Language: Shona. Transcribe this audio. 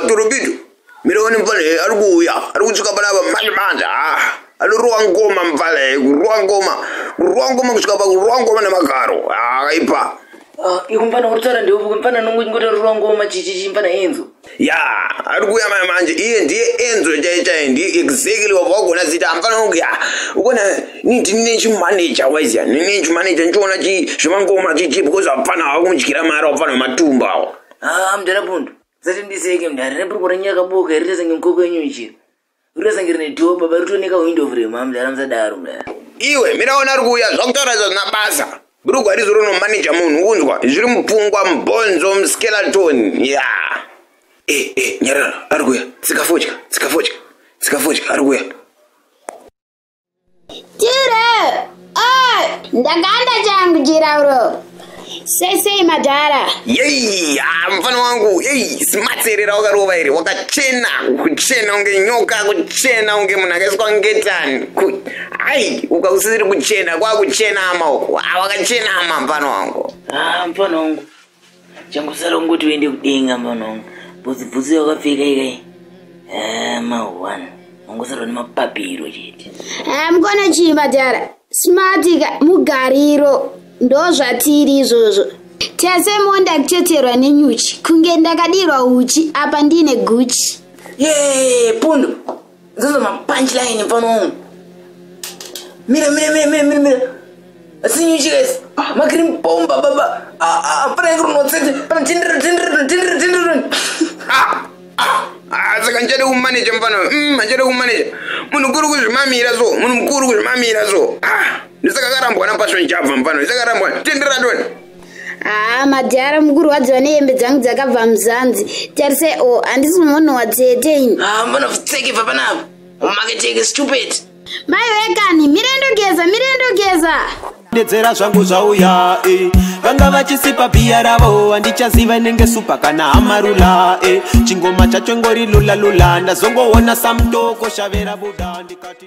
Turubidu, milioni mvale alikuuya alikutsvika palava manje manje alirowa ngoma mvale kurowa ngoma kurowa ngoma kusvika pakurowa ngoma nemagaro akaipa ikumfana kutaura ndiwe mfana nongochingoti alirowa ngoma chichichi mfana enzo ya ari kuuya maya manje iye ndiye enzo chai chai ndiye exactly wabva wagona zita hamfanira kunge ya ukona ni ndine chimaneja waiziya ndine chimaneja ndichiona zvemangoma chichi because hapfana hawakumudyira mari wapfana wematumba awo ah, mdara pundu zati ndiseke mdara rebrukura nyaka boka iri tese ngenkoko yenyu ichiri Rurasangire nedhoo baba rutoneka hwindo vure mamu dara musadaro mdara. Iwe mira ona ari kuuya zvakutaura izvo zvina basa. Brugwa rizo rono manager munhu unzwa zviri mupfungwa mubhonzo muskeleton ya. Eh eh nyarara ari kuuya tsika fodya tsika fodya tsika fodya ari kuuya. Tire! Oi! Ndakanda changu chirauro. Sei sei madhara? Yei, ah, mfana wangu, yei, smart ere rawakarova ere, wakachena, kuchena unge nyoka, kuchena unge munhu akaiswa ngetani. Ku- Ai, ukausisiri kuchena, kwakuchena ama uko. Ah, wakachena ama mfana wangu. Ah, mfana wangu. changosara ungoti uende kudenga mwana wangu bvudzi bvudzi yakapfeka ikai eh, maone ungosara nemapapiro chete eh, mukona chii madhara smartika mugariro ndo zvatiri izvozvo tese monda kucheterwa nenyuchi kunge ndakadirwa uchi apa ndiine guchi ye pundu Zozo ma punchline pano. Mira mira mira mira mira mira. Asinyu chikes. Ah, ma cream bomba baba. Ah ah pana ngro no tsete. Pana tindr tindr tindr tindr. Ah ah. Ah, saka ndichade kumanaja mfana mm, ndichade kumanaja munhu mukuru kuzvimamira so munhu mukuru kuzvimamira so ah, ndisakarambwa napassion java mfana ndisakarambwa tendera toni haa madhara mukurwadziwa nehembe dzangu dzakabva muzanzi tarisai o oh, handisi munhu watsete ini haa ah, mbona pfutseke bva panapa umaketeke stupid mai vekani mirendogeza mirendogeza dedzera zvangu zvauya e vanga vachisipa bhiya ravo handichaziva inenge supa kana hamarula e chingoma chacho ngori lulalula ndazongoona samtoko shavera buda ndikati